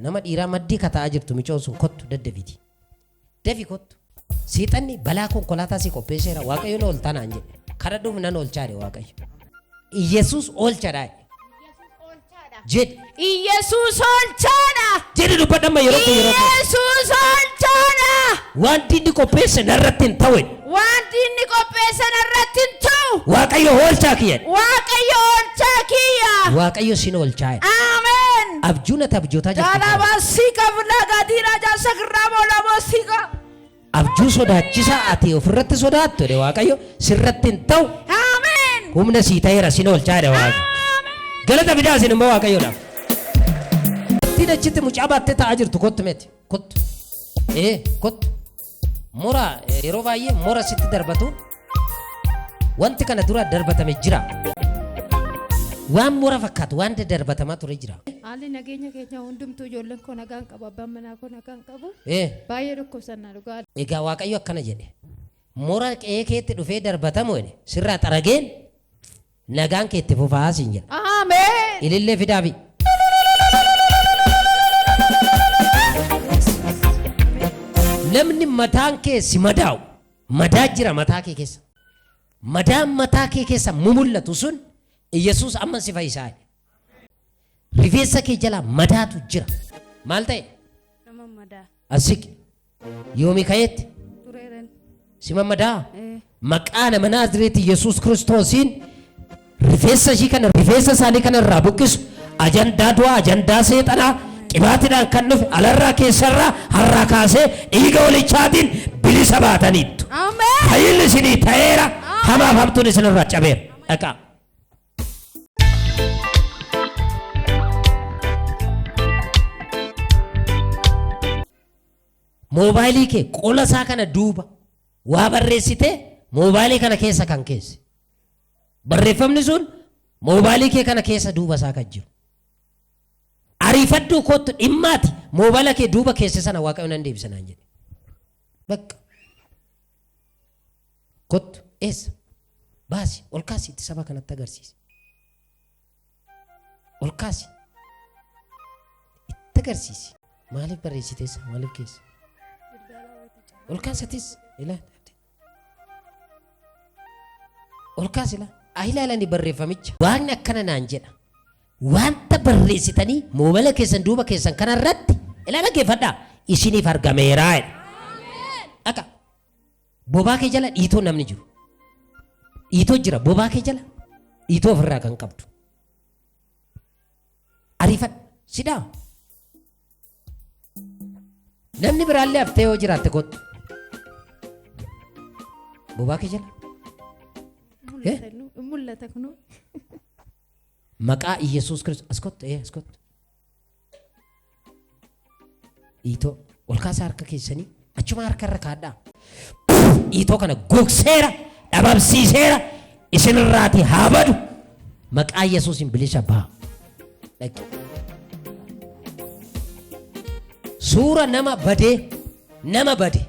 nama dhiiraa maddii kata'aa jirtu micoon sun kottu daddafiti. Dafi kottu. Seexanni balaa konkolaataa si qopheesseera waaqayyo na ooltaa naan jedhe. Kadhadhuuf nan oolchaadhe waaqayyo. Iyyasuus oolchadhaa. Jedhi. Iyyasuus olchaadha. Jedhi dubbadha amma yeroo kee yeroo kee. Iyyasuus olchaadha. Waan diinni qopheesse narratti hin ta'u. Wanti inni qopheessan irratti hin ta'u. Waaqayyo oolchaa kiyya. Waaqayyo olchaa kiyya. Waaqayyo sin oolchaa. Ameen. Abjuun ati abjootaa jirtu. Jalabasika vnagadira jasakramolamasika. Abjuu sodaachisaa ati ofirratti sodaattu jedhe Waaqayyo sirratti hin ta'u Amen. humna sii ta'eera sin oolchaa jedhe Waaqayyo. Amen. Galata fidaa isin immoo Waaqayyoodhaaf. Ittiin achitti mucaa baattee taa'aa jirtu kottu miti kottu ee kottu mura eh, yeroo baay'ee mura sitti darbatu Wanti kana dura darbatame jira. Waan mura fakkaatu waan darbatamaa ture jira. Haalli nageenya keenya hundumtuu ijoolleen koo nagaan qabu abbaan manaa koo nagaan qabu Eh, baay'ee dhukkubsannaa dhugaa Egaa Waaqayyo akkana jedhe. Mura qe'ee keetti dhufee darbatamu jedhe. Sirraa xarageen Nagaan kee itti fufaa siin jedha. Ameen. Ilillee fidaafi. Namni mataan kee si madaa'u madaa jira mataa kee keessa. Madaan mataa kee keessa mumullatu sun Yesuus amma si fayyisaa. Rifeensa kee jala madaatu jira. Maal ta'e? Nama madaa. Asik Yoomi ka'eetti tureeran. si mammadaa? Eh, Maqaa nama Naazreeti Yesuus Kiristoosiin rifeensa ishii kana rifeensa isaanii kana irraa buqqisu ajandaa du'aa ajandaa seexanaa qibaatidhaan kan dhufe alarraa keessarraa harraa kaasee dhiiga walichaatiin bilisa baataniittu. Ameen. Fayyinni isinii ta'eera hamaaf hamtuun isinirraa cabeera. Dhaqaa. Moobaayilii kee qola isaa kana duuba waa barreessitee moobaayilii kana keessa kan keesse. Barreeffamni sun moobaayilii kee kana keessa duuba isaa kan jiru. Ariifadhuu kootu dhimmaati moobaayila kee duuba keesse sana waaqayyoon nan deebisanaan jedhe. Bakka. Kottu, eessa? Baasi, ol kaasi itti saba kanatti agarsiisi. Ol kaasi. Itti agarsiisi. Maaliif barreessiteessa? Maaliif keessa? Ol kaasatis ilaali. Ol kaasi ilaa. Haa ilaalani barreeffamicha. Waaqni akkana naan jedha. Wanta barreessitanii moobala keessan duuba keessan kanarratti ilaala geeffadhaa isiniif argameeraa jedha. Akka Bobaa kee jala dhiitoo namni jiru. Dhiitoo jira bobaa kee jala dhiitoo ofirraa kan qabdu. Ariifadhu sidhaa. Namni biraallee haftee yoo jiraatte kottu. Bobaa kee jala. Mul'ata nu- mul'ata kunoo. Maqaa Iyyasuus Kiristoos as kottu ee as kottu. Dhiitoo ol kaasaa harka keessanii achuma harka irra kaadhaa. Dhiitoo kana gogseera dhabamsiiseera isinirraati haa badu maqaa Yesuusin bilisa baha. Dhaqi. Suura nama badee nama bade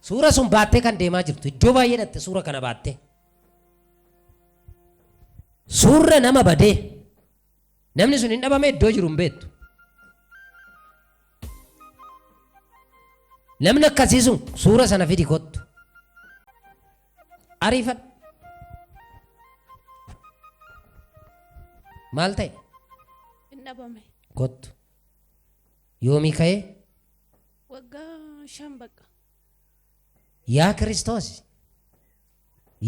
suura sun baattee kan deemaa jirtu iddoo baay'ee dhatte suura kana baattee. Suurra nama badee Namni sun hin dhabame iddoo jiru hin beektu. Namni akkasii sun suura sana fidi kottu. Ariifadhu. Maal ta'e? Hin dhabame. Kottu. Yoomii ka'ee? Waggaa shan bakka. Yaa Kiristoos.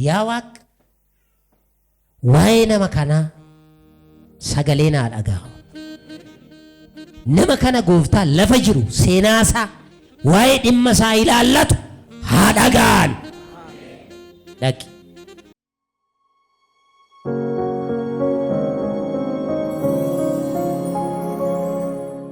Yaa Waaqa. Waa'ee nama kanaa sagalee naa dhaga'amu. Nama kana gooftaa lafa jiru seenaa isaa waa'ee dhimma isaa ilaallatu haa dhaga'an. Dhaqi.